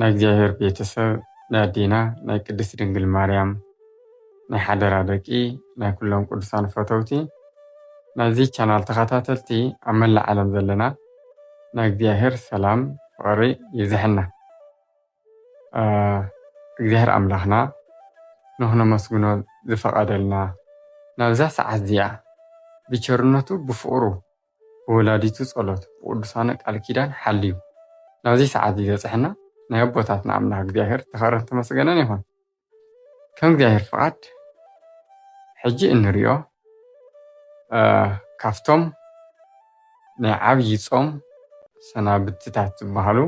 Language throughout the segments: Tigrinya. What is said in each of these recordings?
ናይ እግዚኣብሔር ቤተሰብ ናይ ኣዴና ናይ ቅድስት ድንግል ማርያም ናይ ሓደራ ደቂ ናይ ኩሎም ቅዱሳን ፈተውቲ ናይዚ ቻናል ተኸታተልቲ ኣብ መላእ ዓለም ዘለና ናይ እግዚኣብሔር ሰላም ፍቕሪ ይብዝሐና። እግዚኣብሔር ኣምላኽና ንኽነመስግኖ ዝፈቐደልና ናብዛ ሰዓት እዚኣ ብቸርነቱ ብፍቕሩ ብወላዲቱ ጸሎት ብቅዱሳኑ ቃል ኪዳን ሓልዩ ናብዚ ሰዓት እዚ ዘብጸሐና ናይ ኣቦታትና ኣምላክ እግዚኣብሔር ዝተከብረን ዝተመስገነን ይኩን ከም እግዚኣብሔር ፍቃድ ሕጂ እንሪኦ ካብቶም ናይ ዓብይ ጾም ሰናብትታት ዝበሃሉ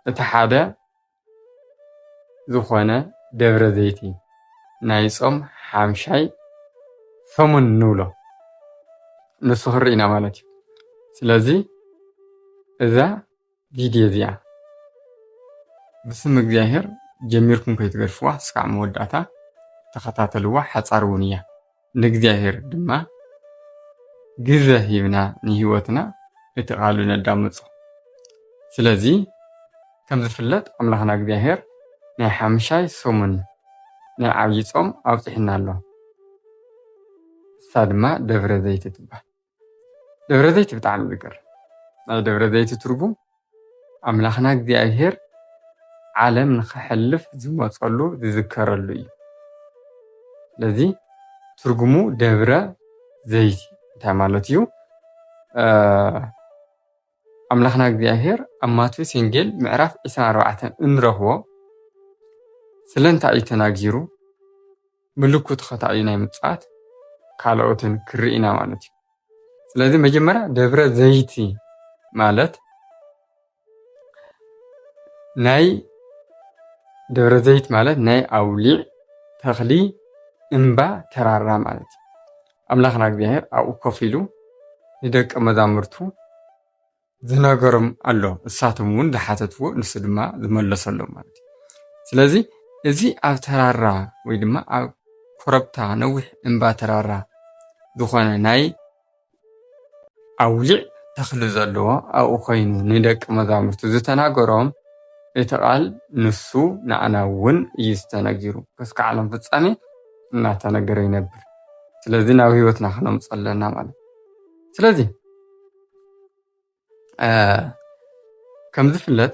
እቲ ሓደ ዝኾነ ደብረ ዘይቲ ናይ ጾም ሓምሻይ ሰሙን ንብሎ ንሱ ክርኢ ኢና ማለት እዩ። ስለዚ እዛ ቪድዮ እዚኣ ብስም እግዚኣብሔር ጀሚርኩም ከይትገድፍዋ እስካዕ መወዳእታ ተኸታተልዋ ሓፃር እውን እያ። ንእግዚኣብሔር ድማ ግዘ ሂብና ንህይወትና እቲ ቃሉ ነዳምፆ ስለዚ ከም ዝፍለጥ ኣምላኽና እግዚኣብሔር ናይ ሓምሻይ ሰሙን ናይ ዓብዪ ጾም ኣውፂሕና ኣሎ እሳ ድማ ደብረ ዘይቲ ትባል ደብረዘይቲ ብጣዕሚ ዝገርም ናይ ደብረዘይቲ ትርጉም ኣምላኽና እግዚኣብሄር ዓለም ንኸሕልፍ ዝመፀሉ ዝዝከረሉ እዩ። ስለዚ ትርጉሙ ደብረ ዘይቲ እንታይ ማለት እዩ? ኣምላኽና እግዚኣብሔር ኣብ ማቴዎስ ወንጌል ምዕራፍ 24 እንረኽቦ ስለንታይ እዩ ተናጊሩ ምልኩ ተኸታዩ ናይ ምጽኣት ካልኦትን ክርኢና ማለት እዩ ስለዚ መጀመርያ ደብረ ዘይቲ ማለት ናይ ደብረ ዘይት ማለት ናይ ኣውሊዕ ተኽሊ እምባ ተራራ ማለት እዩ ኣምላኽና እግዚኣብሔር ኣብኡ ኮፍ ኢሉ ንደቀ መዛሙርቱ ዝነገሮም ኣሎ እሳቶም እውን ዝሓተትዎ ንሱ ድማ ዝመለሰሎም ማለት እዩ ስለዚ እዚ ኣብ ተራራ ወይ ድማ ኣብ ኮረብታ ነዊሕ እምባ ተራራ ዝኾነ ናይ ኣውሊዕ ተኽሊ ዘለዎ ኣብኡ ኮይኑ ንደቂ መዛሙርቱ ዝተናገሮም እቲ ቃል ንሱ ንዓና እውን እዩ ዝተነጊሩ ክስካዕ ዓለም ፍፃሜ እናተነገረ ይነብር። ስለዚ ናብ ህይወትና ክነምፅ ኣለና ማለት ስለዚ ከም ዝፍለጥ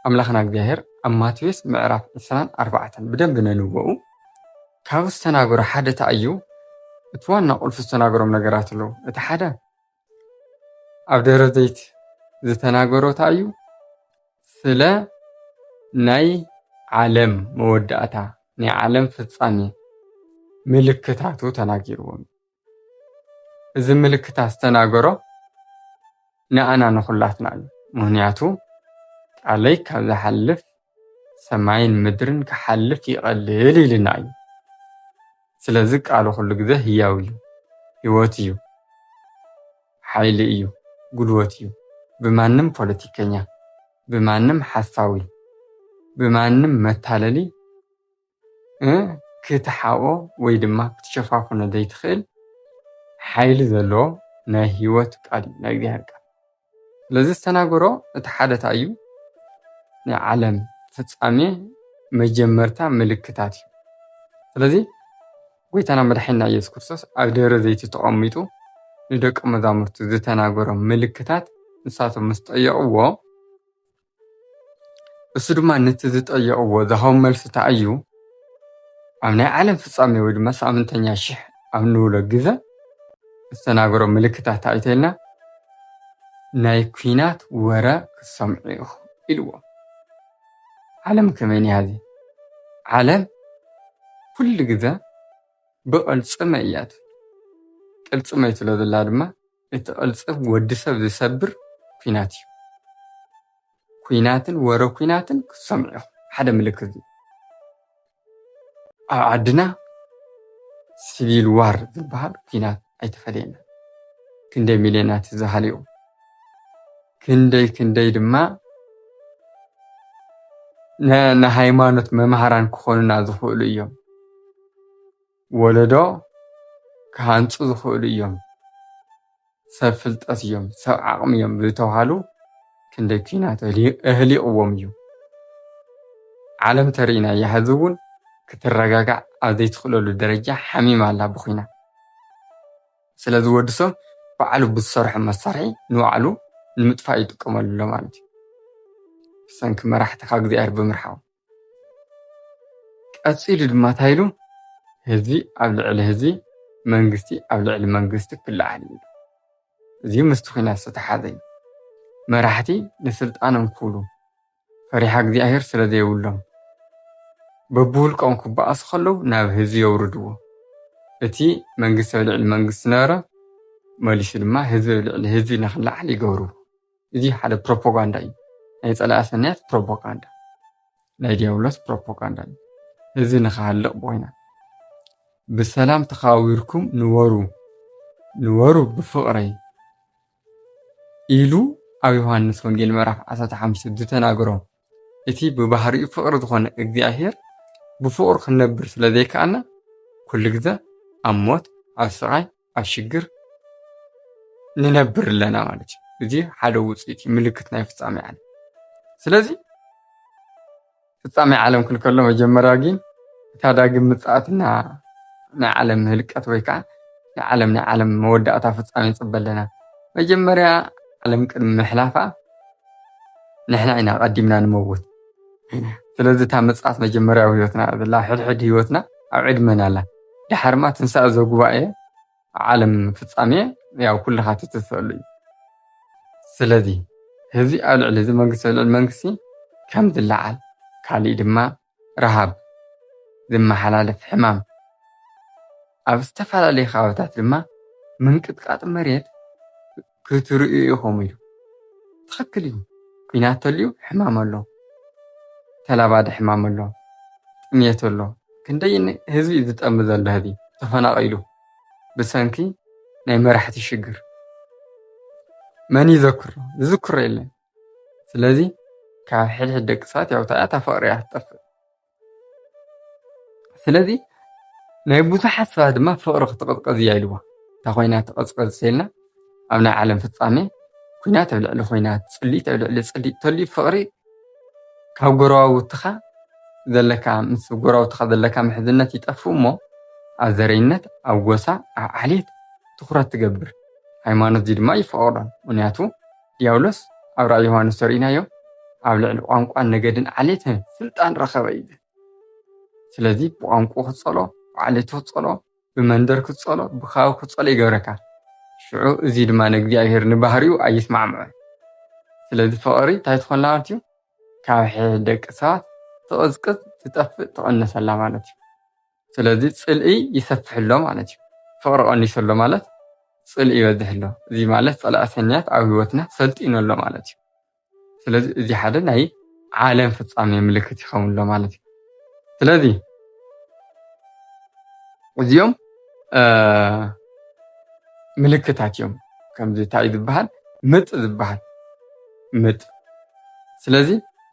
ኣምላኽና እግዚኣብሔር ኣብ ማቴዎስ ምዕራፍ 24 ኣርባዕተን ብደንብ ነንበኡ ካብ ዝተናገሮ ሓደ እንታይ እዩ እቲ ዋና ቁልፊ ዝተናገሮም ነገራት ኣለዉ እቲ ሓደ ኣብ ደብረ ዘይት ዝተናገሮ እንታይ እዩ? ስለ ናይ ዓለም መወዳእታ ናይ ዓለም ፍጻሜ ምልክታቱ ተናጊርዎም እዚ ምልክታት ዝተናገሮ ንኣና ንኹላትና እዩ። ምክንያቱ ቃለይ ካብ ዝሓልፍ ሰማይን ምድርን ክሓልፍ ይቐልል ኢልና እዩ። ስለዚ ቃሉ ኩሉ ግዘ ህያው እዩ፣ ህይወት እዩ፣ ሓይሊ እዩ፣ ጉልበት እዩ። ብማንም ፖለቲከኛ፣ ብማንም ሓሳዊ፣ ብማንም መታለሊ ክትሓብኦ ወይ ድማ ክትሸፋፍኖ ዘይትኽእል ሓይሊ ዘለዎ ናይ ህይወት ቃል እዩ፣ ናይ እግዚኣብሔር ቃል። ስለዚ ዝተናገሮ እቲ ሓደ እንታይ እዩ? ናይ ዓለም ፍጻሜ መጀመርታ ምልክታት እዩ። ስለዚ ጎይታና መድሓኒና ኢየሱስ ክርስቶስ ኣብ ደብረ ዘይቲ ተቐሚጡ ንደቀ መዛሙርቱ ዝተናገሮም ምልክታት ንሳቶም ምስ ጠየቕዎ እሱ ድማ ነቲ ዝጠየቕዎ ዝሃቦም መልሲ እንታይ እዩ? ኣብ ናይ ዓለም ፍጻሜ ወይ ድማ ሰኣምንተኛ ሽሕ ኣብ ንብሎ ግዘ እተናገሮ ምልክታት እንታይ እዩ ተይልና ናይ ኩናት ወረ ክትሰምዑ ኢኹም ኢልዎ። ዓለም ከመይ እኒሃ ሕዚ? ዓለም ኩሉ ግዘ ብቕልፅመ እያ ትብል። ቅልፅመ ስለ ዘላ ድማ፣ እቲ ቅልጽም ወዲ ሰብ ዝሰብር ኩናት እዩ። ኩናትን ወረ ኩናትን ክትሰምዑ ኢኹም። ሓደ ምልክት እዩ። ኣብ ዓድና ሲቪል ዋር ዝበሃል ኩናት ኣይተፈለየና። ክንደይ ሚልዮናት ህዝቢ ሃልዮም። ክንደይ ክንደይ ድማ ንሃይማኖት መምሃራን ክኾኑና ዝኽእሉ እዮም። ወለዶ ክሃንፁ ዝኽእሉ እዮም፣ ሰብ ፍልጠት እዮም፣ ሰብ ዓቕሚ እዮም ዝተብሃሉ ክንደይ ኲናት ኣህሊቕዎም እዩ። ዓለም ተርእዩና እያ፣ ሕዚ እውን ክትረጋጋዕ ኣብ ዘይትኽእለሉ ደረጃ ሓሚማ ኣላ ብኲናት። ስለዚ ወዲ ሰብ ባዕሉ ብዝሰርሖ መሳርሒ ንባዕሉ ንምጥፋእ ይጥቀመሉ ኣሎ ማለት እዩ። ብሰንኪ መራሕቲ ካብ እግዚኣብሔር ብምርሓቕ። ቀጺሉ ድማ እንታይ ኢሉ ህዝቢ ኣብ ልዕሊ ህዝቢ መንግስቲ ኣብ ልዕሊ መንግስቲ ክለዓል እዩ ኢሉ። እዚ ምስቲ ኲናት ዝተተሓሓዘ እዩ። መራሕቲ ንስልጣኖም ክብሉ ፈሪሓ እግዚኣብሄር ስለ ዘይብሎም በብውልቆም ክበኣሱ ከለዉ ናብ ህዝቢ የውርድዎ። እቲ መንግስቲ ኣብ ልዕሊ መንግስቲ ዝነበረ መሊሱ ድማ ህዝቢ ኣብ ልዕሊ ህዝቢ ንኽለዓል ይገብርዎ። እዚ ሓደ ፕሮፓጋንዳ እዩ። ናይ ጸላኢ ሰናያት ፕሮፓጋንዳ፣ ናይ ዲያብሎስ ፕሮፓጋንዳ እዩ። እዚ ንክሃልቕ ብኩናት ብሰላም ተኸባቢርኩም ንበሩ ንበሩ ብፍቕረይ ኢሉ ኣብ ዮሃንስ ወንጌል ምዕራፍ 15 ዝተናገሮ እቲ ብባህሪኡ ፍቕሪ ዝኾነ እግዚኣብሔር ብፍቕሩ ክንነብር ስለ ዘይከኣልና ኩሉ ግዘ ኣብ ሞት ኣብ ስቓይ ኣብ ሽግር ንነብር ኣለና ማለት እዩ እዚ ሓደ ውፅኢት እዩ ምልክት ናይ ፍፃሜ ዓለም ስለዚ ፍፃሜ ዓለም ክንከሎ መጀመርያ ግን እታ ዳግም ምፅኣትና ናይ ዓለም ህልቀት ወይ ከዓ ናይ ዓለም ናይ ዓለም መወዳእታ ፍፃሜ ንፅበ ኣለና መጀመርያ ዓለም ቅድሚ ምሕላፋ ንሕና ኢና ቀዲምና ንመውት ስለዚ እታ ምፅኣት መጀመርያ ኣብ ህይወትና ዘላ ሕድሕድ ህይወትና ኣብ ዕድመና ኣላ ዳሕርማ ትንሳኤ ዘጉባኤ ዓለም ፍጻሜ ያው ኩልኻ ትትሰሉ እዩ ስለዚ ህዝቢ ኣብ ልዕሊ እዚ መንግስቲ ኣብ ልዕሊ መንግስቲ ከም ዝለዓል ካሊእ ድማ ረሃብ ዝመሓላለፍ ሕማም ኣብ ዝተፈላለዩ ከባቢታት ድማ ምንቅጥቃጥ መሬት ክትርእዩ ኢኹም ኢሉ። ትኽክል እዩ ኩናት ተልዩ ሕማም ኣሎ ተላባዲ ሕማም ኣሎ ጥምየት ኣሎ ክንደይ ህዝቢ እዩ ዝጠሚ ዘሎ ህዚ ተፈናቒሉ ብሰንኪ ናይ መራሕቲ ሽግር መን ይዘክሮ ዝዝክሮ የለን ስለዚ ካብ ሕድሕድ ደቂ ሰባት ያውታያ ታፈቕሪ እያ ትጠፍእ ስለዚ ናይ ብዙሓት ሰባት ድማ ፍቕሪ ክትቕዝቀዝ እያ ኢልዋ እታ ኮይና ትቐዝቀዝ ሰልና ኣብ ናይ ዓለም ፍፃሜ ኩናት ኣብ ልዕሊ ኩናት ፅሊኢት ኣብ ልዕሊ ፅሊኢት ተልዩ ፍቕሪ ካብ ጎረባብትኻ ዘለካ ምስ ጎረባብትኻ ዘለካ ምሕዝነት ይጠፍእ እሞ ኣብ ዘረይነት ኣብ ጎሳ ኣብ ዓሌት ትኩረት ትገብር ሃይማኖት እዚ ድማ ይፈቕዶ ምክንያቱ ዲያብሎስ ኣብ ራእይ ዮሃንስ ተርእይናዮ ኣብ ልዕሊ ቋንቋን ነገድን ዓሌትን ስልጣን ረኸበ እዩ ዝብል ስለዚ ብቋንቁ ክትጸሎ ብዓሌቱ ክትጸሎ ብመንደር ክትጸሎ ብካባቢ ክትጸሎ ይገብረካ ሽዑ እዚ ድማ ንእግዚኣብሔር ንባህሪኡ ኣይስማዕምዖን ስለዚ ፍቕሪ እንታይ ትኾን ማለት እዩ ካብ ሕድ ደቂ ሰባት ትቕዝቅዝ ትጠፍእ ትቕንሰላ ማለት እዩ ስለዚ ጽልኢ ይሰፍሕ ኣሎ ማለት እዩ። ፍቕሪ ቀኒሱ ኣሎ ማለት ጽልኢ ይበዝሕ ኣሎ። እዚ ማለት ጸላኢ ሰናያት ኣብ ህይወትና ሰልጢኑ ኣሎ ማለት እዩ። ስለዚ እዚ ሓደ ናይ ዓለም ፍጻሜ ምልክት ይኸውን ኣሎ ማለት እዩ። ስለዚ እዚኦም ምልክታት እዮም። ከምዚ እንታይ እዩ ዝበሃል ምጥ ዝበሃል ምጥ ስለዚ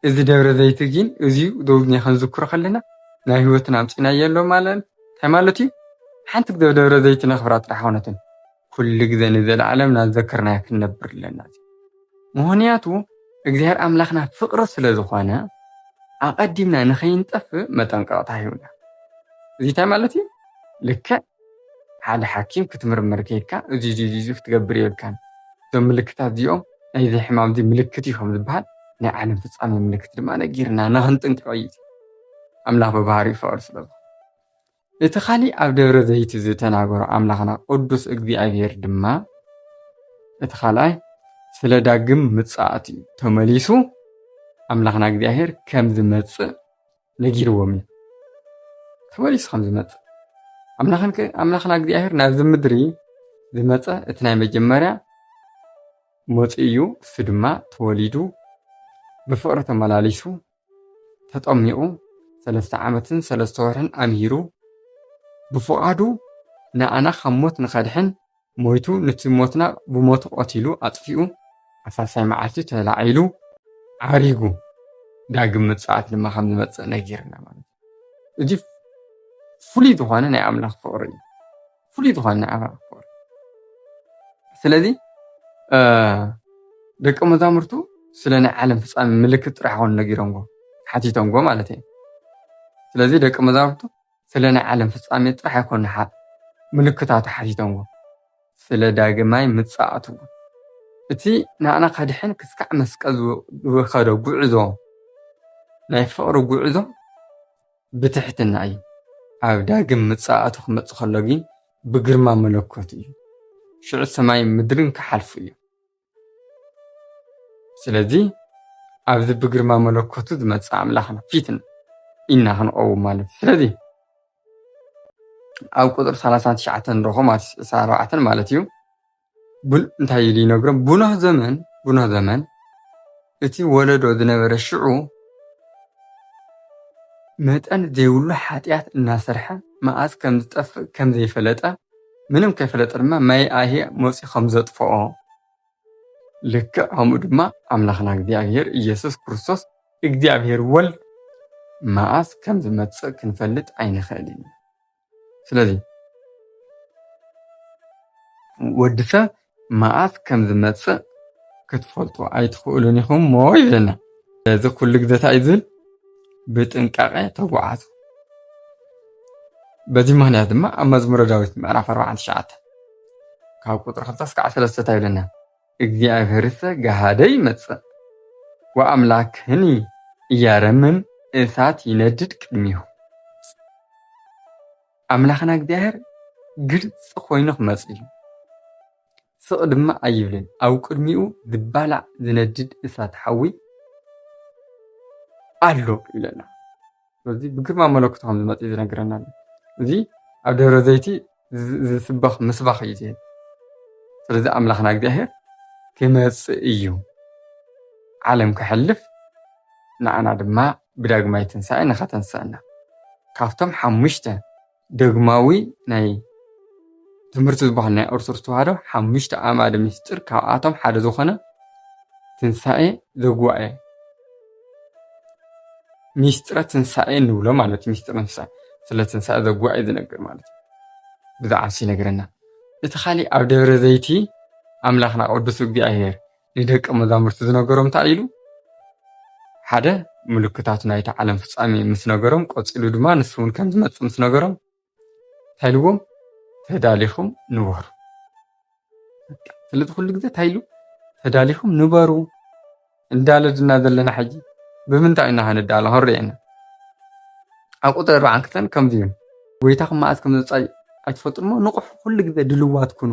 እዚ ደብረ ዘይቲ ግን እዚዩ ዶብኛ ክንዝክሮ ከለና ናይ ህይወትና ኣምጺናዮ ኣሎ ማለት እንታይ ማለት እዩ ሓንቲ ግዘ ደብረ ዘይቲ ነኽብራ ጥራሕ ኮነትን ኩሉ ግዘ ንዘለዓለም ናዘከርናያ ክንነብር ኣለና ምክንያቱ እግዚኣብሔር ኣምላኽና ፍቅሪ ስለ ዝኾነ ኣቀዲምና ንኸይንጠፍእ መጠንቀቅታ ሂቡና እዚ እንታይ ማለት እዩ ልክዕ ሓደ ሓኪም ክትምርመር ከይድካ እዚ እዚ እዚ ክትገብር የብልካን እዞም ምልክታት እዚኦም ናይዚ ሕማም እዚ ምልክት እዩ ከም ዝበሃል ናይ ዓለም ፍጻሜ ምልክት ድማ ነጊርና ንኽንጥንቀቕ እዩ ኣምላኽ ብባህሪኡ ፍቕሪ ስለ ዝኾነ እቲ ካሊእ ኣብ ደብረ ዘይቲ ዝተናገሮ ኣምላኽና ቅዱስ እግዚኣብሔር ድማ እቲ ካልኣይ ስለ ዳግም ምጽኣት እዩ ተመሊሱ ኣምላኽና እግዚኣብሔር ከም ዝመጽእ ነጊርዎም እዩ ተመሊሱ ከም ዝመፅእ ኣምላኽና እግዚኣብሔር ናብዚ ምድሪ ዝመፀ እቲ ናይ መጀመርያ መፁ እዩ እሱ ድማ ተወሊዱ ብፍቕሪ ተመላሊሱ ተጠሚቑ ሰለስተ ዓመትን ሰለስተ ወርሕን ኣምሂሩ ብፍቓዱ ንኣና ካብ ሞት ንኸድሕን ሞይቱ ንቲ ሞትና ብሞቱ ቐቲሉ ኣጥፊኡ ኣሳሳይ መዓልቲ ተላዒሉ ዓሪጉ ዳግም ምጽኣት ድማ ከም ዝመጽእ ነጊርና ማለት እዩ እዚ ፍሉይ ዝኾነ ናይ ኣምላኽ ፍቕሪ እዩ ፍሉይ ዝኾነ ናይ ኣምላኽ ፍቕሪ ስለዚ ደቂ መዛሙርቱ ስለ ናይ ዓለም ፍፃሚ ምልክት ጥራሕ ኮኑ ነጊሮምዎ ሓቲቶምዎ ማለት እዩ ስለዚ ደቂ መዛሙርቱ ስለ ናይ ዓለም ፍጻሜ ጥራሕ ኣይኮኑን ሓፍ ምልክታቱ ሓቲቶምዎ ስለ ዳግማይ ምጽኣቱ'ውን። እቲ ንኣና ከድሕን ክስካዕ መስቀል ዝኸዶ ጉዕዞ ናይ ፍቕሪ ጉዕዞ ብትሕትና እዩ። ኣብ ዳግም ምጽኣቱ ክመጽእ ከሎ ግን ብግርማ መለኮት እዩ። ሽዑ ሰማይን ምድርን ክሓልፉ እዮም። ስለዚ ኣብዚ ብግርማ መለኮቱ ዝመፅእ ኣምላኽና ፊት ኢልና ክንቐውም ማለት እዩ። ስለዚ ኣብ ቁፅሪ ሰላሳን ትሽዓተን ንረኽቦ ማለት እዩ ዕስራን ኣርባዕተን ማለት እዩ እንታይ ኢሉ ይነግሮም ብኖህ ዘመን ብኖህ ዘመን እቲ ወለዶ ዝነበረ ሽዑ መጠን ዘይብሉ ሓጥያት እናሰርሐ መኣዝ ከም ዝጠፍእ ከም ዘይፈለጠ ምንም ከይፈለጠ ድማ ማይ ኣሂ መጽዩ ከም ዘጥፍኦ ልክዕ ከምኡ ድማ ኣምላኽና እግዚኣብሔር ኢየሱስ ክርስቶስ እግዚኣብሔር ወልድ መኣዝ ከም ዝመጽእ ክንፈልጥ ኣይንኽእልን። ስለዚ ወዲ ሰብ መዓስ ከም ዝመጽእ ክትፈልጡ ኣይትኽእሉን ኢኹም እሞ ይብለና። ስለዚ ኩሉ ግዜ እንታይ እዩ ዝብል ብጥንቃቐ ተጓዓዙ። በዚ ምክንያት ድማ ኣብ መዝሙረ ዳዊት ምዕራፍ 49 ካብ ቁጥሪ 2 እስከ 13 ይብለና እግዚኣብሔርሰ ገሃደ ይመጽእ ወአምላክህኒ ኢያረምም እሳት ይነድድ ቅድሜሁ። ኣምላኽና እግዚኣብሔር ግልፂ ኮይኑ ክመፅእ እዩ። ስቕ ድማ ኣይብልን። ኣብ ቅድሚኡ ዝባላዕ ዝነድድ እሳት ሓዊ ኣሎ ይብለና። ስለዚ ብግርማ መለኮቱ ከም ዝመጽእ እዩ ዝነግረና ኣሎ እዚ ኣብ ደብረ ዘይቲ ዝስበኽ ምስባኽ እዩ ዝህብ ስለዚ ኣምላኽና እግዚኣብሔር ክመጽእ እዩ ዓለም ከሕልፍ ንኣና ድማ ብዳግማይ ትንሣኤ ንኸተንስአና ካብቶም ሓሙሽተ ደግማዊ ናይ ትምህርቲ ዝበሃል ናይ ኦርቶዶክስ ተዋህዶ ሓሙሽተ ኣዕማደ ምስጢር ካብኣቶም ሓደ ዝኾነ ትንሳኤ ዘጉባኤ ሚስጥረ ትንሳኤ ንብሎ ማለት እዩ ሚስጥረ ትንሳኤ ስለ ትንሳኤ ዘጉባኤ ዝነግር ማለት እዩ ብዛዕባ ንሱ ይነግረና እቲ ካሊእ ኣብ ደብረ ዘይቲ ኣምላኽና ቅዱስ እግዚኣብሔር ንደቀ መዛሙርቲ ዝነገሮም እንታይ ኢሉ? ሓደ ምልክታት ናይቲ ዓለም ፍጻሜ ምስ ነገሮም ቀጺሉ ድማ ንሱ እውን ከም ዝመጽእ ምስ ነገሮም እንታይ ኢልዎም? ተዳሊኹም ንበሩ። ስለዚ ኩሉ ግዜ እንታይ ኢሉ? ተዳሊኹም ንበሩ እንዳለድና ዘለና ሕጂ ብምንታይ ኢና ክንዳሎ ክንሪኤና ኣብ ቁጥሪ ኣርባዓን ክልተን ከምዚ ይብል ጎይታኹም መዓዝ ከም ዝመጽእ ኣይትፈልጡን እሞ ንቑሑ ኩሉ ግዜ ድልዋት ኩኑ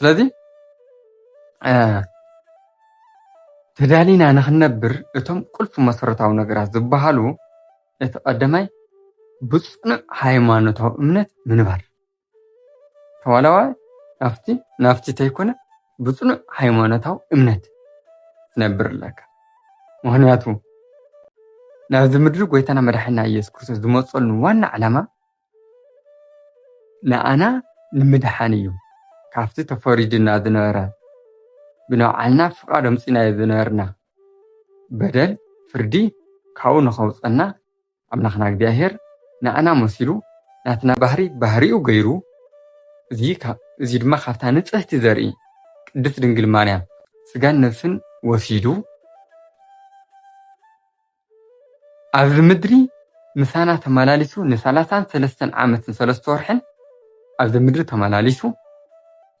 ስለዚ ተዳሊና ንክንነብር እቶም ቁልፊ መሰረታዊ ነገራት ዝበሃሉ እቲ ቀዳማይ ብፅኑዕ ሃይማኖታዊ እምነት ምንባር ተዋላዋ ናፍቲ ናፍቲ ተይኮነ ብፅኑዕ ሃይማኖታዊ እምነት ትነብር ኣለካ ምክንያቱ ናብዚ ምድሪ ጎይታና መድሓኒና ኢየሱስ ክርስቶስ ዝመፀሉ ዋና ዓላማ ንኣና ንምድሓን እዩ ካብቲ ተፈሪዱና ዝነበረ ብናብዓልና ፍቃድ ኣምጺናዮ ዝነበርና በደል ፍርዲ ካብኡ ንከውጸና ኣምላክና እግዚኣብሔር ንኣና መሲሉ ናትና ባህሪ ባህሪኡ ገይሩ እዚ ድማ ካብታ ንጽሕቲ ዘርኢ ቅድስት ድንግል ማርያም ስጋን ነብስን ወሲዱ ኣብዚ ምድሪ ምሳና ተመላሊሱ ንሳላሳን ሰለስተን ዓመትን ሰለስተ ወርሕን ኣብዚ ምድሪ ተመላሊሱ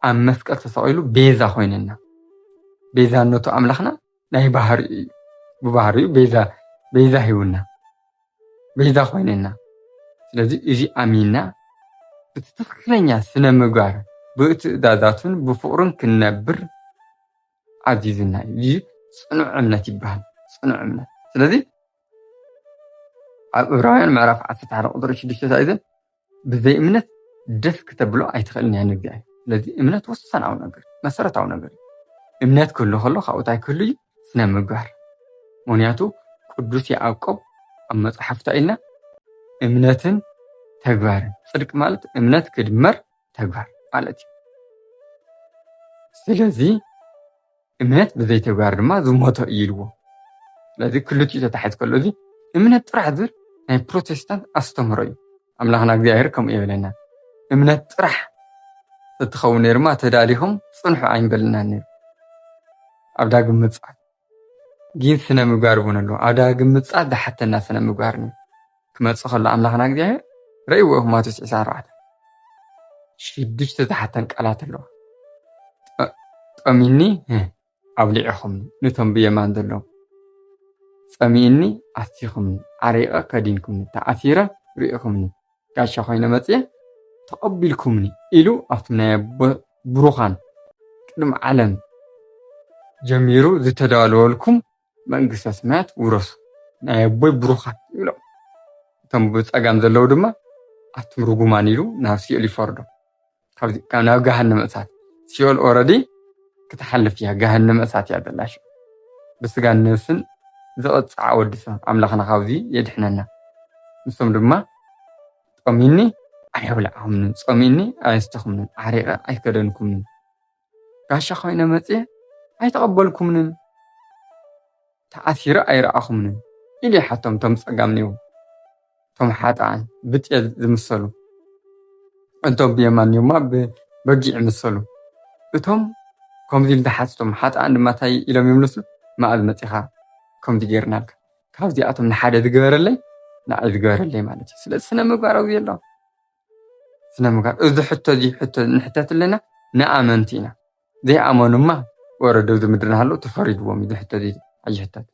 ኣብ መስቀል ተሰቒሉ ቤዛ ኮይነና። ቤዛነቱ ኣምላኽና ናይ ባህሪኡ እዩ። ብባህሪኡ ቤዛ ቤዛ ሂቡና ቤዛ ኮይነና። ስለዚ እዚ ኣሚንና እቲ ትኽክለኛ ስነ ምግባር ብትእዛዛቱን ብፍቕሩን ክንነብር ኣዚዝና እዩ እዚ ፅኑዕ እምነት ይበሃል ፅኑዕ እምነት ስለዚ ኣብ እብራውያን ምዕራፍ ዓሰርተ ሓደ ቁፅሪ ሽዱሽተ እንታይ እዩ ብዘይ እምነት ደስ ክተብሎ ኣይትኽእልን እያ ንእግዚኣብሔር ስለዚ እምነት ወሳናዊ ነገር መሰረታዊ ነገር እዩ እምነት ክህሉ ከሎ ካብኡ እንታይ ክህሉ እዩ ስነ ምግባር ምክንያቱ ቅዱስ ያዕቆብ ኣብ መፅሓፍታ ኢልና እምነትን ተግባርን ፅድቂ ማለት እምነት ክድመር ተግባር ማለት እዩ። ስለዚ እምነት ብዘይ ተግባር ድማ ዝሞተ እዩ ኢልዎ። ስለዚ ክልቲኡ ተታሒዝ ከሎ እዚ እምነት ጥራሕ ዝብል ናይ ፕሮቴስታንት ኣስተምህሮ እዩ። ኣምላኽና እግዚኣብሔር ከምኡ የብለና እምነት ጥራሕ እትኸውን ነይርማ ተዳሊኹም ፅንሑ ኣይንበልናን ነይሩ ኣብ ዳግም ምፅኣት ጊን ስነ ምግባር እውን ኣሎ ኣዳ ግምጻ ዳሓተና ስነ ምግባር ን ክመጽእ ከሎ ኣምላኽና እግዚኣብሔር ረእይዎ ኢኹም ማቴዎስ ዕስራን ኣርባዕተን ሽዱሽተ ዝሓተን ቃላት ኣለዋ ጠሚኒ ኣብሊዕኹም ነቶም ብየማን ዘለዉ ጸሚእኒ ኣስቲኹምኒ ዓሪቐ ከዲንኩምኒ ተኣሲረ ርኢኹምኒ ጋሻ ኮይነ መፅየ ተቐቢልኩምኒ ኢሉ ኣብቲ ናይ ኣቦ ብሩኻን ቅድሚ ዓለም ጀሚሩ ዝተዳለወልኩም መንግስተ ሰማያት ውረሱ ናይ ኣቦይ ብሩኻን ይብሎም። እቶም ብፀጋም ዘለዉ ድማ ኣቱም ርጉማን ኢሉ ናብ ሲኦል ይፈርዶም። ካብ ናብ ገሃነመ እሳት ሲኦል ኦረዲ ክትሓልፍ እያ ገሃነመ እሳት እያ ዘላ ሽዑ ብስጋን ነብስን ዝቕፅዓ ወዲ ሰብ ኣምላኽና ካብዚ የድሕነና ንሶም ድማ ጦሚኒ ኣየብልዓኹምንን ጾሚኒ ኣየስተኹምንን ዓሪቐ ኣይከደንኩምንን ጋሻ ኮይነ መፅየ ኣይተቐበልኩምንን ተኣሲረ ኣይረኣኹምንን ኢሉ ይሓቶም እቶም ፀጋም ኔው እቶም ሓጥኣን ብጤል ዝምሰሉ እቶም ብየማን ኔውማ ብበጊዕ ምሰሉ እቶም ከምዚ ኢሉ ዝሓትቶም ሓጥኣን ድማ እንታይ ኢሎም ይምልሱ ማእዝ መፂኻ ከምዚ ጌርናልካ ካብዚኣቶም ንሓደ ዝገበረለይ ንዓይ ዝገበረለይ ማለት እዩ ስለዚ ስነ ምግባር ኣብዚ ኣሎ ስነምግባር እዚ ሕቶ እዚ ሕቶ ንሕተት ኣለና ንኣመንቲ ኢና ዘይኣመኑ እማ ወረዶ ኣብዚ ምድሪ እናሃለዉ ተፈሪድዎም እዩ እዚ ሕቶ እዚ ኣይሕተት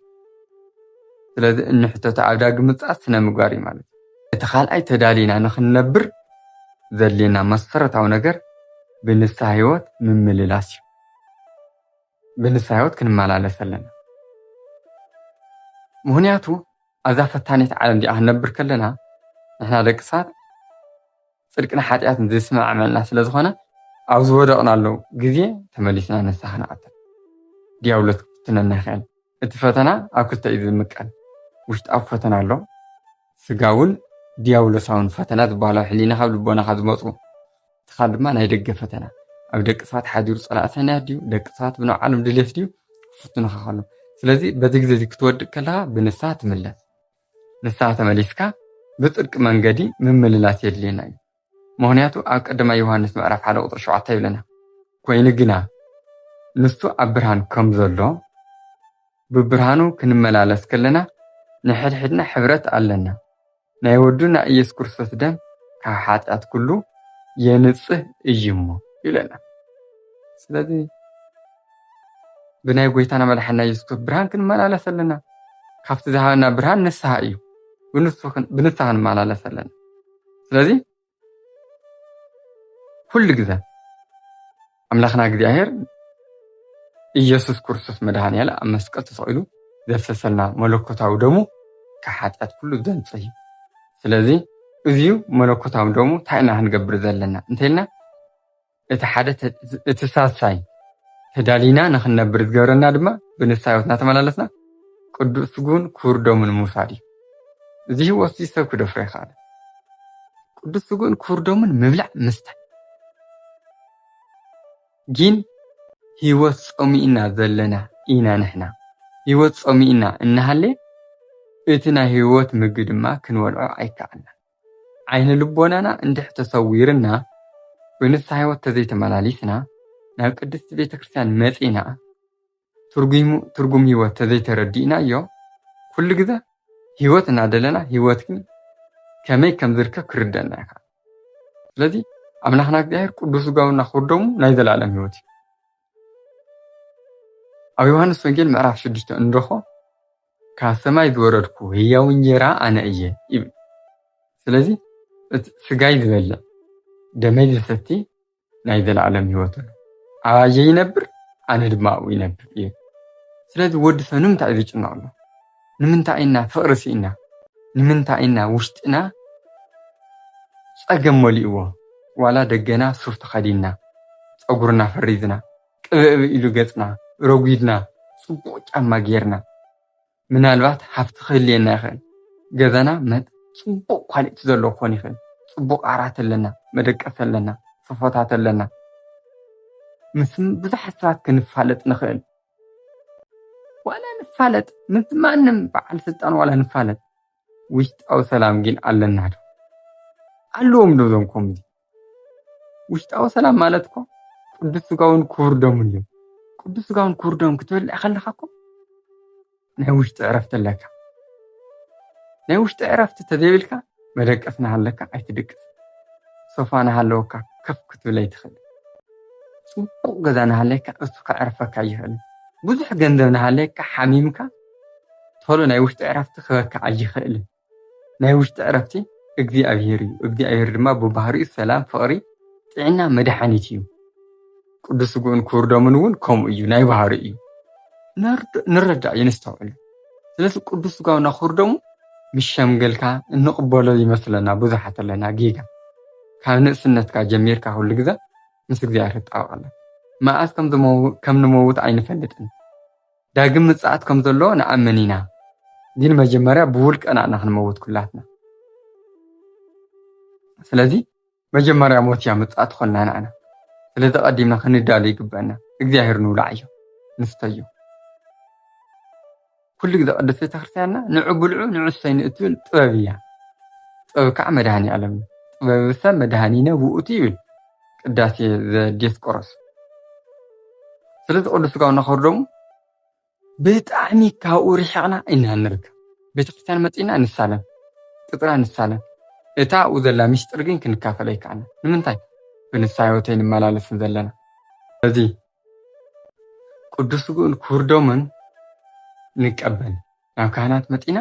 ስለዚ እንሕተቶ ኣብ ዳግም ምጽኣት ስነምግባር እዩ ማለት እቲ ካልኣይ ተዳሊና ንኽንነብር ዘድልየና መሰረታዊ ነገር ብንስሓ ህይወት ምምልላስ እዩ ብንስሓ ህይወት ክንመላለስ ኣለና ምኽንያቱ ኣብዛ ፈታኒት ዓለም እዚኣ ክንነብር ከለና ንሕና ደቂ ሰባት ጽድቅን ሓጢኣትን ዘይስማዕመዐና ስለ ዝኾነ ኣብ ዝወደቕናሉ ግዜ ተመሊስና ንስሓ ክንኣቱ ዲያብሎስ ክፍትነና ይኽእል። እቲ ፈተና ኣብ ክልተ እዩ ዝምቀል፣ ውሽጣዊ ፈተና ኣሎ፣ ስጋውን ዲያብሎሳውን ፈተና ዝበሃሉ ኣብ ሕሊናኻ ኣብ ልቦናኻ ዝመጹ ትኻል ድማ ናይ ደገ ፈተና ኣብ ደቂ ሰባት ሓዲሩ ፀላእ ሰናያት ድዩ ደቂ ሰባት ብናይ ዓለም ድሌት ድዩ ክፍትኑኻ ከሎ ስለዚ በዚ ግዜ እዚ ክትወድቅ ከለኻ ብንስሓ ትምለስ ንስሓ ተመሊስካ ብፅድቂ መንገዲ ምምልላስ የድልየና እዩ ምክንያቱ ኣብ ቀደማ ዮሃንስ ምዕራፍ ሓደ ቁጥሪ ሸውዓተ ይብለና ኮይኑ ግና ንሱ ኣብ ብርሃን ከም ዘሎ ብብርሃኑ ክንመላለስ ከለና ንሕድሕድና ሕብረት ኣለና ናይ ወዱ ናይ ኢየሱስ ክርስቶስ ደም ካብ ሓጢኣት ኩሉ የንጽህ እዩ እሞ ይብለና። ስለዚ ብናይ ጎይታና መድሓና ኢየሱስ ክርስቶስ ብርሃን ክንመላለስ ኣለና። ካብቲ ዝሃበና ብርሃን ንስሓ እዩ። ብንስሓ ክንመላለስ ኣለና። ስለዚ ኩሉ ግዘ ኣምላኽና እግዚኣብሔር ኢየሱስ ክርስቶስ መድኃኔዓለ ኣብ መስቀል ተሰቂሉ ዘፍሰሰልና መለኮታዊ ደሙ ካብ ሓጢኣት ኩሉ ዘንጽ እዩ ስለዚ እዚዩ መለኮታዊ ደሙ እንታይ ኢና ክንገብር ዘለና እንተልና እቲ ሓደ እቲ ሳልሳይ ተዳሊና ንኽንነብር ዝገብረና ድማ ብንስሓ ህይወት እናተመላለስና ቅዱስ ስጉን ክቡር ደሙን ምውሳድ እዩ። እዚ ህይወት እዚ ሰብ ክደፍሮ ይኸኣል። ቅዱስ ስጉን ክቡር ደሙን ምብላዕ ምስታይ ግን ህይወት ጸሚእና ዘለና ኢና ንሕና ህይወት ጸሚእና እናሃለ እቲ ናይ ህይወት ምግቢ ድማ ክንበልዖ ኣይከኣልናን። ዓይነ ልቦናና እንድሕ ተሰዊርና ብንስሓ ሕይወት ተዘይተመላሊስና ናብ ቅድስቲ ቤተ ክርስቲያን መጺና ትርጉሙ ትርጉም ሕይወት ተዘይተረዲእናዮ ኩሉ ግዘ ሕይወት እናደለና ሕይወት ግን ከመይ ከም ዝርከብ ክርደና ይኸ ስለዚ ኣምላኽና እግዚኣብሔር ቅዱስ ስጋውና ክቡር ደሙ ናይ ዘለኣለም ህይወት እዩ ኣብ ዮሃንስ ወንጌል ምዕራፍ ሽዱሽተ እንረኾ ካብ ሰማይ ዝወረድኩ ህያው እንጀራ ኣነ እየ ይብል። ስለዚ እቲ ስጋይ ዝበልዕ ደመይ ዝሰቲ ናይ ዘለኣለም ህይወት ኣሎ። ኣባየ ይነብር ኣነ ድማ ኣብኡ ይነብር ይብል። ስለዚ ወዲ ሰብ ንምንታይ እዩ ዝጭነቕ ኣሎ? ንምንታይ ኢና ፍቕሪ ስኢና? ንምንታይ ኢና ውሽጥና ጸገም መሊእዎ ዋላ ደገና ሱፍ ተኸዲንና ጸጉርና ፈሪዝና ቅብእብእ ኢሉ ገጽና ረጒድና ጽቡቕ ጫማ ጌርና ምናልባት ሃፍቲ ክህልየና ይኽእል ገዛና መጥ ጽቡቕ ኳሊቲ ዘለዎ ክኾን ይኽእል ጽቡቕ ዓራት ኣለና መደቀሲ ኣለና ሶፎታት ኣለና ምስ ብዙሓት ሰባት ክንፋለጥ ንኽእል ዋላ ንፋለጥ ምስ ማንም በዓል ስልጣን ዋላ ንፋለጥ ውሽጣዊ ሰላም ግን ኣለና ዶ ኣለዎም ዶ እዞም ከምዚ ውሽጣዊ ሰላም ማለት እኮ ቅዱስ ስጋውን ክቡር ደሙን እዩ። ቅዱስ ስጋውን ክቡር ደሙን ክትበልዕ ከለካ እኮ ናይ ውሽጢ ዕረፍቲ ኣለካ። ናይ ውሽጢ ዕረፍቲ ተዘይብልካ መደቀስ ናሃለካ ኣይትድቅስ፣ ሶፋ ናሃለወካ ከፍ ክትብል ኣይትኽእል፣ ፅቡቕ ገዛ ናሃለካ እሱ ከዕርፈካ ኣይኽእልን፣ ብዙሕ ገንዘብ ናሃለካ ሓሚምካ ቶሎ ናይ ውሽጢ ዕረፍቲ ክበካ ኣይኽእልን። ናይ ውሽጢ ዕረፍቲ እግዚኣብሔር እዩ። እግዚኣብሔር ድማ ብባህሪኡ ሰላም፣ ፍቕሪ፣ ጥዕና፣ መድሓኒት እዩ። ቅዱስ ስግኡን ክቡር ደሙን እውን ከምኡ እዩ፣ ናይ ባህሪ እዩ። ንረዳእ እዩ፣ ነስተውዕል። ስለዚ ቅዱስ ስጋውና ክቡር ደሙ ምስ ሸምገልካ እንቕበሎ ይመስለና ብዙሓት ኣለና ጌጋ። ካብ ንእስነትካ ጀሚርካ ኩሉ ግዘ ምስ እግዚኣብሔር ትጣበቕ ኣላ። መዓዝ ከም ንመውት ኣይንፈልጥን። ዳግም ምጽኣት ከም ዘሎ ንኣምን ኢና፣ ግን መጀመርያ ብውልቀና ኢና ክንመውት ኩላትና። ስለዚ መጀመርያ ሞት እያ ምጽኣት ትኾነና ንኣና። ስለዚ ቀዲምና ክንዳሎ ይግበእና። እግዚኣብሔር ንብላዓዮ ንስተዮ። ኩሉ ግዜ ቅድስት ቤተክርስቲያንና ንዑ ብልዑ ንዑ ስተዩ ንእትብል ጥበብ እያ። ጥበብ ከዓ መድኃኔዓለም እዩ። ጥበብ ሰብ መድኃኒነ ውእቱ ይብል። ቅዳሴ ዘዲዮስቆሮስ ስለዚ ቅዱስ ስጋው እናኸብሩ ደሞ ብጣዕሚ ካብኡ ርሒቕና ኢና ንርከብ። ቤተክርስትያን መፂእና ንሳለም፣ ቅፅራ ንሳለም። እታ ኣብኡ ዘላ ሚስጥር ግን ክንካፈል ኣይከኣልና። ንምንታይ? ብንስሓ ህይወት ኣይንመላለስን ዘለና። ስለዚ ቅዱስ ስግኡን ክቡር ደሙን ንቀበል ናብ ካህናት መጺና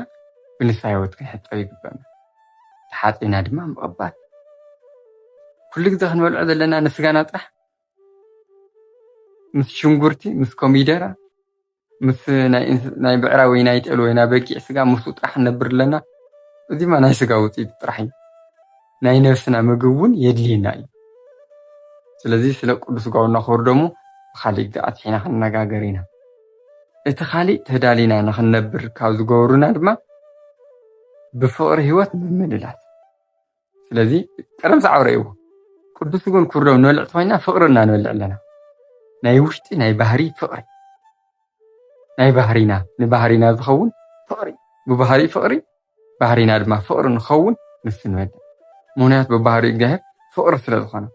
ብንስሓ ሕይወት ክንሕጸብ ይግበእና። ተሓጺና ድማ ምቕባል። ኩሉ ግዜ ክንበልዖ ዘለና ንስጋና ጥራሕ ምስ ሽንጉርቲ ምስ ኮሚደረ ምስ ናይ ብዕራይ ወይ ናይ ጤል ወይ ናይ በጊዕ ስጋ ምስኡ ጥራሕ ንነብር ኣለና እዚ ድማ ናይ ስጋ ውፅኢት ጥራሕ እዩ ናይ ነብስና ምግብ እውን የድልየና እዩ ስለዚ ስለ ቅዱስ ስጋውና ክቡር ደሙ ብካሊእ ግዜ ኣትሒና ክንነጋገር ኢና እቲ ካሊእ ተዳሊና ንክንነብር ካብ ዝገብሩና ድማ ብፍቅሪ ሂወት ምምልላስ ስለዚ ቀደም ሰዓብ ረእይዎ ቅዱስ ግን ኩርዶም ንበልዕ ተኮይና ፍቅሪ እና ንበልዕ ኣለና ናይ ውሽጢ ናይ ባህሪ ፍቅሪ ናይ ባህሪና ንባህሪና ዝኸውን ፍቅሪ ብባህሪ ፍቅሪ ባህሪና ድማ ፍቅሪ ንኸውን ንሱ ንበልዕ ምክንያቱ ብባህሪ እግዚኣብሔር ፍቅሪ ስለ ዝኮነ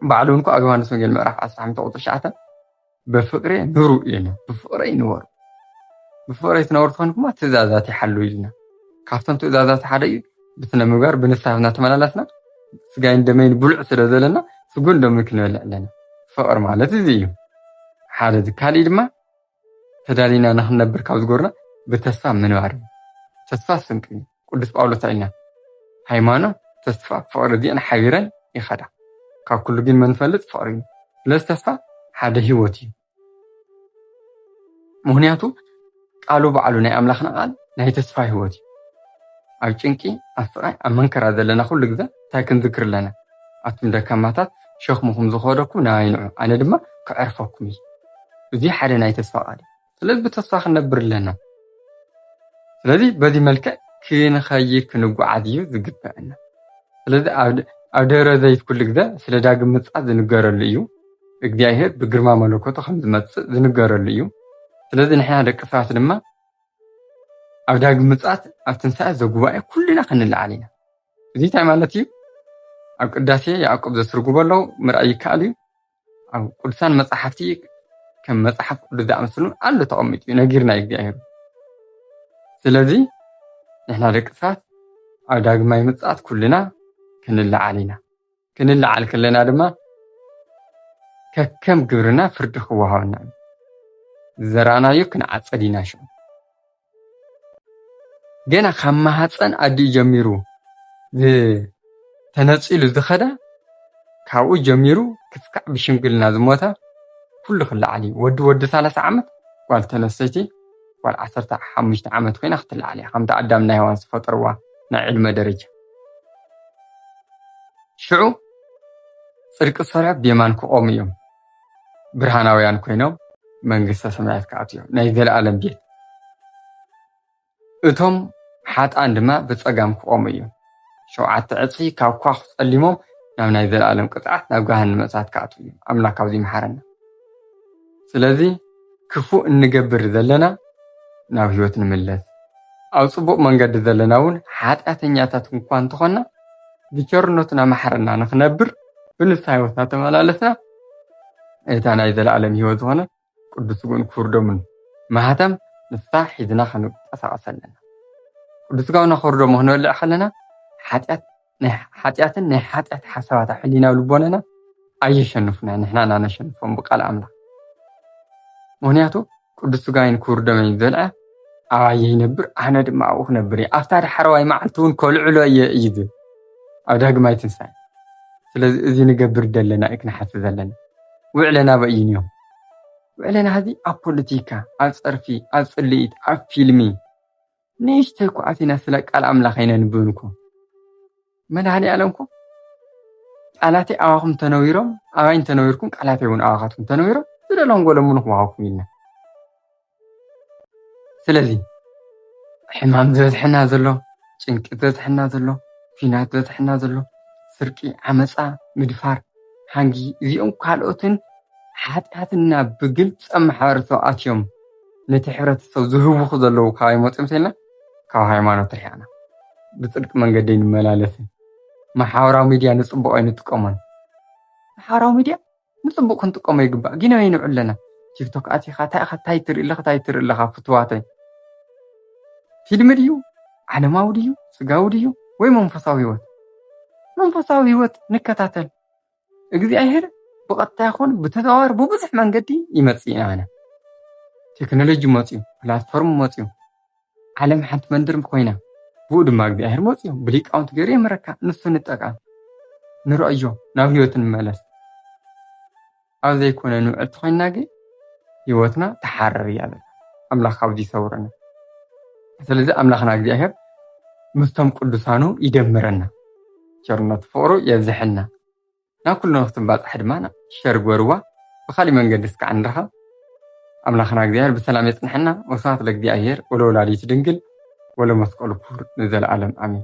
ባዕሉ እንኳ ኣገባንስ ወንጌል ምዕራፍ ዓሰርተ ሓሙሽተ ቁፅሪ ትሽዓተ ብፍቅሬ ኑሩ ኢልና ብፍቅረይ ንበሩ ብፍቅረይ ትነብሩ ትኾንኩማ ትእዛዛት ይሓሉ ኢልና ካብቶም ትእዛዛት ሓደ እዩ ብስነ ምግባር ብንስሓ እናተመላለስና ስጋይን ደመይን ብሉዕ ስለ ዘለና ስጉን ደሙን ክንበልዕ ኣለና ፍቅሪ ማለት እዚ እዩ ሓደ እዚ ካሊእ ድማ ተዳሊና ንክንነብር ካብ ዝጎርና ብተስፋ ምንባር እዩ ተስፋ ስንቂ እዩ ቅዱስ ጳውሎስ ኣይነ ሃይማኖት ተስፋ ፍቅሪ እዚኤን ሓቢረን ይኸዳ ካብ ኩሉ ግን መንፈልጥ ፍቅሪ እዩ ስለዚ ተስፋ ሓደ ህይወት እዩ ምክንያቱ ቃሉ ባዕሉ ናይ ኣምላኽና ቃል ናይ ተስፋ ህይወት እዩ ኣብ ጭንቂ ኣብ ስቃይ ኣብ መንከራ ዘለና ኩሉ ግዘ እንታይ ክንዝክር ኣለና ኣቱም ደካማታት ሸክምኹም ዝኸደኩም ናባይ ንዑ ኣነ ድማ ከዕርፈኩም እዩ እዚ ሓደ ናይ ተስፋ ቃል እዩ ስለዚ ብተስፋ ክንነብር ኣለና። ስለዚ በዚ መልክዕ ክንኸይድ ክንጓዓዝ እዩ ዝግበእና። ስለዚ ኣብ ደብረ ዘይት ኩሉ ግዘ ስለ ዳግም ምጽኣት ዝንገረሉ እዩ። እግዚኣብሄር ብግርማ መለኮቱ ከም ዝመጽእ ዝንገረሉ እዩ። ስለዚ ንሕና ደቂ ሰባት ድማ ኣብ ዳግም ምጽኣት ኣብ ትንሳኤ ዘጉባኤ ኩልና ክንለዓል ኢና። እዚ እንታይ ማለት እዩ? ኣብ ቅዳሴ ያዕቆብ ዘትርጉቦ ኣለዉ ምርኣይ ይከኣል እዩ። ኣብ ቅዱሳን መጻሕፍቲ ከም መጽሓፍ ቅዱስ ዝኣመሰሉ ኣሎ ተቐሚጡ እዩ ነጊርና እዩ እግዚኣብሔር ስለዚ ንሕና ደቂ ሰባት ኣብ ዳግማይ ምጽኣት ኩልና ክንለዓል ኢና ክንለዓል ከለና ድማ ከከም ግብርና ፍርዲ ክወሃበና እዩ ዝዘራእናዮ ክንዓጸድ ኢና ሽዑ ገና ካብ ማህፀን ኣዲኡ ጀሚሩ ተነፂሉ ዝኸዳ ካብኡ ጀሚሩ ክሳዕ ብሽምግልና ዝሞታ ኩሉ ክለዓል እዩ። ወዲ ወዲ ሰላሳ ዓመት ጓል ተነስተይቲ ጓል ዓሰርተ ሓሙሽተ ዓመት ኮይና ክትለዓል እያ ከምቲ ኣዳም ናይ ሄዋን ዝፈጠርዋ ናይ ዕድመ ደረጃ ሽዑ ፅድቂ ዝሰርሑ ብየማን ክቆሙ እዮም። ብርሃናውያን ኮይኖም መንግስተ ሰማያት ክኣትዉ እዮም፣ ናይ ዘለኣለም ቤት። እቶም ሓጥኣን ድማ ብጸጋም ክቖሙ እዮም። ሸውዓተ ዕጽፊ ካብ ኳኹ ጸሊሞም ናብ ናይ ዘለኣለም ቅጽዓት ናብ ገሃነመ እሳት ክኣትዉ እዮም። ኣምላክ ካብዚ ይምሓረና። ስለዚ ክፉእ እንገብር ዘለና ናብ ህይወት ንምለስ፣ ኣብ ጽቡቕ መንገዲ ዘለና እውን ሓጢኣተኛታት እኳ እንተኾንና ብቸርነቱ እናመሓረና ንኽነብር ብንስሓ ህይወት እናተመላለስና እታ ናይ ዘለኣለም ህይወት ዝኾነት ቅዱስ ስግኡን ክቡር ደሙን ማህተም ንሳ ሒዝና ክንንቀሳቐስ ኣለና። ቅዱስ ስጋውና ክቡር ደሙ ክንበልዕ ከለና ሓጢኣት ናይ ሓጢኣትን ናይ ሓጢኣት ሓሳባታ ሕሊናዊ ልቦናና ኣየሸንፉና ንሕና እና ነሸንፎም ብቃል ኣምላኽ ምክንያቱ ቅዱስ ስጋይን ክቡር ደመይን ዘልዐ ኣባየ ይነብር ኣነ ድማ ኣብኡ ክነብር እየ ኣብታ ዳሕረዋይ መዓልቲ እውን ከልዕሎ እየ እዩ ዝብል ኣብ ዳግማይ ትንሳኤ ስለዚ እዚ ንገብር ዘለና እዩ ክንሓስብ ዘለና ውዕለና ኣበይ እዩ እኒኦም ውዕለና እዚ ኣብ ፖለቲካ ኣብ ፀርፊ ኣብ ፅልኢት ኣብ ፊልሚ ንእሽተይ ኩዓት ኢና ስለ ቃል ኣምላኽ ኣይነንብብን እኮ መድኃኔዓለም እኮ ቃላተይ ኣባኹም ተነዊሮም ኣባይ እንተነዊርኩም ቃላተይ እውን ኣባኻትኩም ተነዊሮም ዝደለኹም ጎለምኑ ክወሃብኩም ኢልና ስለዚ ሕማም ዝበዝሐና ዘሎ ጭንቂ ዝበዝሐና ዘሎ ኲናት ዝበዝሐና ዘሎ ስርቂ ዓመፃ ምድፋር ሓንጊ እዚኦም ካልኦትን ሓጢኣትና ብግልፂ ኣብ ማሕበረሰብ ኣትዮም ነቲ ሕብረተሰብ ዝህውኹ ዘለዉ ካባይ መጽዮም ተይልና ካብ ሃይማኖት ርሒቕና ብጽድቂ መንገዲ ኣይንመላለስን። መሓበራዊ ሚድያ ንጽቡቕ ኣይንጥቀሞን። መሓበራዊ ሚድያ ንጽቡቕ ክንጥቀሞ ይግባእ ግን ኣበይ ንውዕል ኣለና? ቲክቶክ ኣቲኻ እንታይ ኢኻ እንታይ ትርኢ ኣለኻ እንታይ ትርኢ ኣለኻ ፍቱዋተይ? ፊልሚ ድዩ ዓለማዊ ድዩ ስጋዊ ድዩ ወይ መንፈሳዊ ህይወት? መንፈሳዊ ህይወት ንከታተል። እግዚኣብሔር ብቐጥታ ይኹን ብተዘዋዋሪ ብብዙሕ መንገዲ ይመጽእ ኢና ኣነ ቴክኖሎጂ መፅዩ ፕላትፎርም መፅዩ ዓለም ሓንቲ መንደር ኮይና ብኡ ድማ እግዚኣብሔር መፅዩ ብሊቃውንቲ ገይሩ የምረካ ንሱ ንጠቃም ንረእዮ ናብ ህይወት ንመለስ ኣብ ዘይኮነ ንውዕል ተኮይና ግን ህይወትና ተሓርር እያ ዘላ ኣምላኽ ካብዚ ይሰውረና ስለዚ ኣምላኽና እግዚኣብሔር ምስቶም ቅዱሳኑ ይደምረና ቸርነቱ ፍቕሩ የብዘሐልና ናብ ኩሉ ንክትባጻሕ ድማ ሸር ግበርዋ ብኻሊእ መንገዲ እስካዕ ንራኸብ ኣምላኽና እግዚኣብሔር ብሰላም የጽንሐና ወስብሐት ለእግዚኣብሔር ወለወላዲቱ ድንግል ወለመስቀሉ ክቡር ንዘለዓለም ኣሜን